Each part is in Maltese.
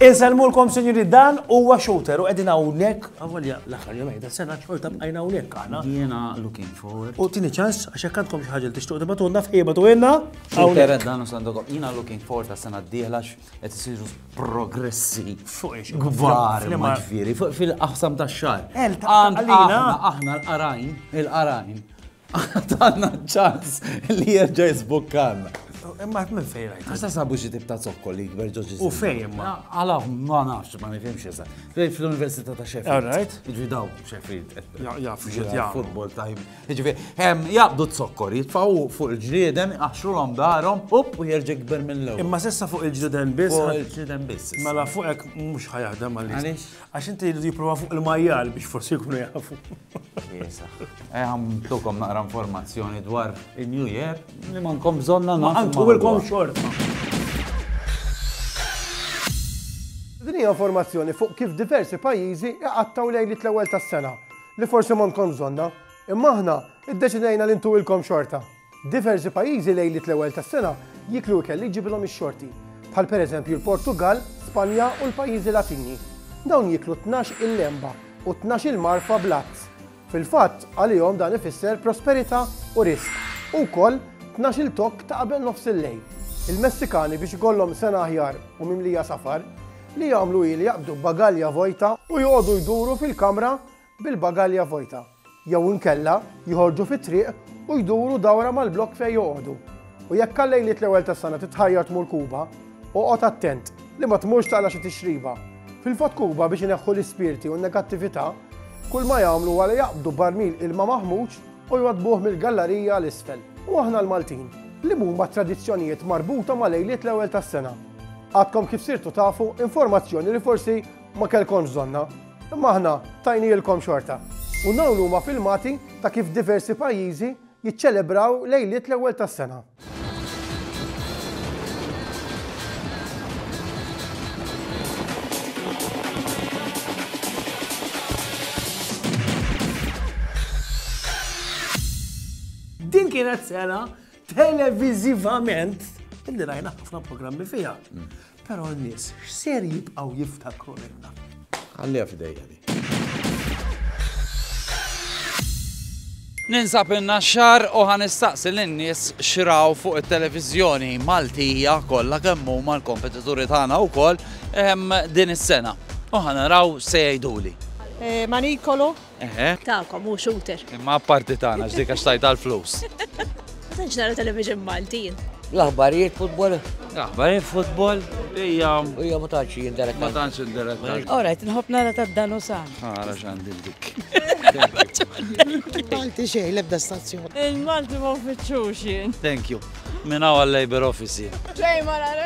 Inselmulkom sinjuri dan huwa shooter u qegħdin hawnhekk. Avolja l-aħħar jom qiegħda sena xorta bqajna hawnhekk aħna. Jiena looking forward. U tieni ċans għax hekk għandkom xi ħaġa li tixtuq tibatulna f'ħieba tu inna. Shooter dan u sandokom. Jiena looking forward għas-sena d-dieħla qed isiru progressi kbar ġifieri fil-qasam tax-xahar. Aħna aħna l-qarajn, il-qarajn, għandna ċans li jerġa' jisbukkanna. Imma għat minn fejn għajt. Għasta sabu xie tibta zokkol li jikber ġoġi. U fejn imma? Għala, ma nafx, ma nifimx jesa. Fl-Università ta' Sheffield. All right. Ġidaw Sheffield. Jaf, jaf. Futbol tajb. Jiġifieri, hemm jaqbdu t-zokkor, jitfgħu fuq il-ġrieden, iqaxxrulhom darhom, up u jerġa' jikber mill-ewwel. Imma s'issa fuq il-ġrieden biss. Fuq il-ġrieden biss. Mela fuq hekk mhux ħa jaħdem għaliex. Għaliex? Għax inti jridu jipprova fuq il-majjal biex forsi jkunu jafu. Iesa. Eh ħamtukom naqra informazzjoni dwar in-New Year li ma nkom bżonna nagħmlu. Ma nkom ilkom xort. Din hija informazzjoni fuq kif diversi pajjiżi iqattgħu lejn it-ewwel tas-sena. li forsi m'għandkomx bżonnha, imma aħna ddeċidejna li ntuwilkom xorta. Diversi pajjiżi lejliet l-ewwel tas-sena jieklu ikel li jġibilhom ix-xorti, bħal pereżempju l-Portugall, Spanja u l-pajjiżi Latini. Dawn jieklu tnax il-lemba u tnax il-marfa bl-għadd. Fil-fatt, għalihom dan ifisser prosperità u riżq, u wkoll tnax il tokk ta' qabel nofs il-lejl. Il-Messikani biex ikollhom sena aħjar u mimlija safar, li jagħmlu hi li jaqbdu bagalja vojta u joqogħdu jduru fil-kamra bil-bagalja vojta, jew inkella joħorġu fit-triq u jduru dawra mal-blokk fejn joqogħdu. U jekk għal lejliet l-ewwel tas-sena titħajjar tmur Kuba, oqgħod attent li ma tmurx taqla' xi tixriba. Fil-fatt Kuba biex ineħħu l-ispirti u n-negattività, kull ma jagħmlu huwa li jaqbdu barmil ilma maħmuġ u jwaddbuh mill-gallarija għal isfel. U aħna l-Maltin, liema huma t-tradizzjonijiet marbuta ma' lejliet l-ewwel tas-sena? Għadkom kif sirtu tafu informazzjoni li forsi ma kellkomx bżonnha, imma aħna tajnielkom xorta. U dawn huma filmati ta' kif diversi pajjiżi jiċċelebraw lejliet l-Ewwel tas-Sena. Din kienet sena televiżivament, illi rajna ħafna programmi fiha. Mm. Però n-nies x'ser jibqgħu jiftakru minna. Għalli f'dejja di. Ninsab inna xar u ħan istaqsi l-nies xraw fuq il-televizjoni Maltija kollha kemm huma l-kompetituri tagħna wkoll ehm, din is-sena. U ħan naraw se jgħiduli. Eh, Manikolo, Eħe. Tagħkom hu shooter. Imma apparti tagħna x'dik għax tajt għall-flus. Ma tantx nara television Malti. L-aħbarijiet futbol. L-aħbarijiet futbol. Ija. Ija ma tantx jinteretta. Ma tantx jinteretta. Ora qed nħobb nara tad-dan u san. Ara x'għandi dik. Malti xejn l-ebda stazzjon. Il-Malti ma uffiċċux jien. Thank you. Minn hawn għal-Labor Office. Xejn ma nara.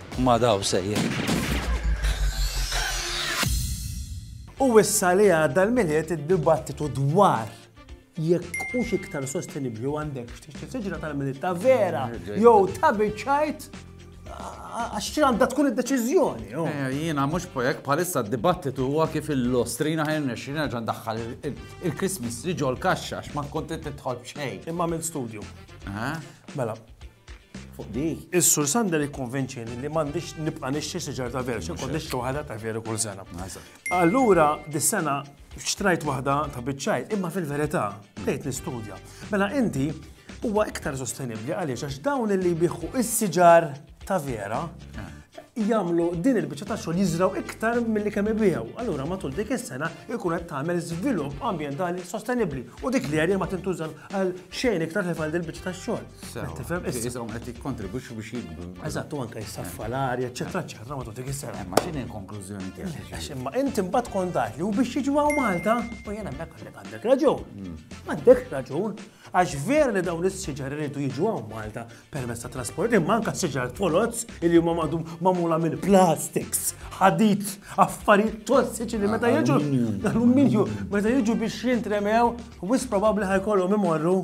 Ma daw sejjed. U issa li għadda l-Milied id-dibattitu dwar jekk hux iktar sostenibbli u għandekx tixtri siġra tal-Milied ta' vera jew ta' biċċajt għax xi għandha tkun id-deċiżjoni. oh. Eh, Jiena mhux pojek bħalissa d-dibattitu huwa kif il-lostrina ħajn nexxi nerġa' ndaħħal il- il- il-Christmas tree ġol kaxxa għax ma konti tidħol b'xejn. Imma minn studju. Eh? Mela, fuq di. Is-Sur Sander ikkonvinċini li m'għandix nibqa' nixtri siġar ta' veru, xi kont nixtri waħda ta' veru kull sena. Allura dis-sena xtrajt waħda ta' biċċajt, imma fil-verità bdejt nistudja. Mela inti huwa iktar sostenibbli għaliex għax dawn li jbiħħu is-siġar ta' vera jagħmlu din il-biċċa ta' xogħol jiżraw iktar milli kemm ibiegħu. Allura matul dik is-sena jkun qed tagħmel żvilupp ambjentali sostenibbli u dik l-erja ma tintuża għal xejn iktar li għal il-biċċa ta' xogħol. Tifhem issa qed jikkontribwixxu biex jikbru. Eżatt, u anke jissaffa l-arja, eċetera, eċetera, matul dik is-sena. Ma x'inhi l-konklużjoni tiegħek? Imma inti mbagħad tkun taf li u biex jiġu Malta, u jien hemmhekk għandek għandek raġun. Hmm. Għandek raġun, għax vera li dawn is-siġar iridu jiġu Malta permezz ta' trasport, imma anka siġar foloz li huma magħdum magħmula minn plastics, ħadid, affarijiet tossiċi li meta jiġu alluminju, meta jiġu biex jintremew, wis probabbli ħajkollhom imorru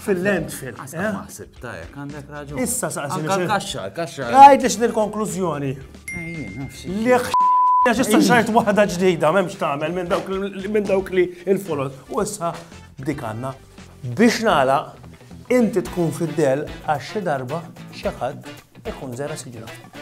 fil-landfill. Għasna maħsib, eh? tajek, għandek raġun. Issa saqsi. Kaxxa, kaxxa. Għajt ix nil-konklużjoni. Li Għax issa xajt waħda ġdida, memx tagħmel minn dawk li il-folot. U issa dik għandna. Biex nagħlaq, inti tkun fid-dell għax xi darba xi ħadd ikun żera' siġra fik.